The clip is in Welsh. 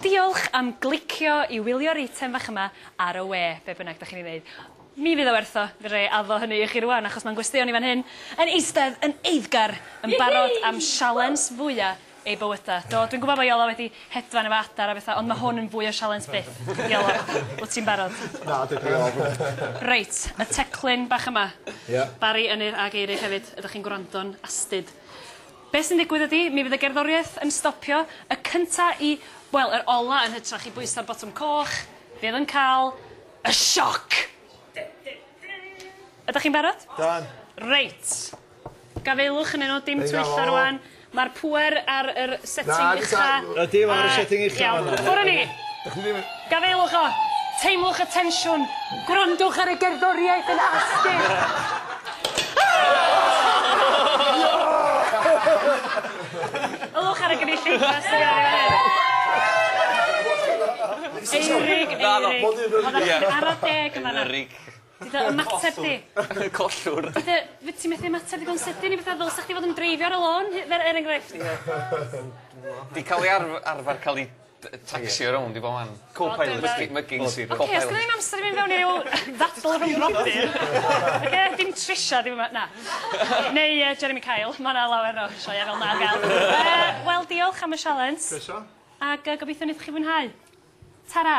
Diolch am glicio i wylio'r eitem fach yma ar y we, be bynnag da chi'n ei wneud. Mi fydd o werth o, fe dra i addo hynny i chi rwan achos mae'n gwesteion ni fan hyn yn eistedd yn eiddgar yn barod am sialens fwya eu bywyda. Do, dwi'n gwybod bod Iola wedi hedfan efo adar a betha ond mae hwn yn fwy o sialens byth. Iola, wyt ti'n barod? Na, dwi di ofn. Reit, y teclyn bach yma. Ie. Barri, Ynyr a Geirig hefyd, ydych chi'n gwrando'n astud? Be' sy'n digwydd ydi, mi fydd y gerddoriaeth yn stopio, y cynta i, wel, yr ola yn hytrach i bwyso'r botwm coch, fydd yn cael y sioc! Ydach chi'n barod? Done. Reit. Gafaelwch ynnyn nhw, dim twyllo rwan. Mae'r pŵer ar yr setting ucha'... Ydi, mae o ar y setting ucha'. Iawn, ffwr a ni! Gafaelwch a teimlwch y tensiwn. Gwrandwch ar y gerddoriaeth yn astud. Ylwch ar y gynulleidfa sydd ar ei ôl. Eirig, Eirig. Oedd e'n ara deg yn fan'na. Eirig. Di dy ymateb di. Collwr. Di dy... Wyt ti methu ymateb digon sydyn i bethau fel sa chdi fod yn dreifio ar y lôn, er enghraifft? Di cael ei arf- arfer cael ei T- yy tacsi o rownd i bob man. Co-pilot. Mygi mygy'n syth rownd. Oce os gynno ni'm amser i mynd fewn i ryw ddadl rhwng brodyr oce dim Trisha dim yma na. Neu yy Jeremy Kyle ma' 'na lawer o sioea fel 'na ar ga'l. Yy wel diolch am y sialens. Croeso. Ag yy gobeithio neith chi fwynhau. Tara.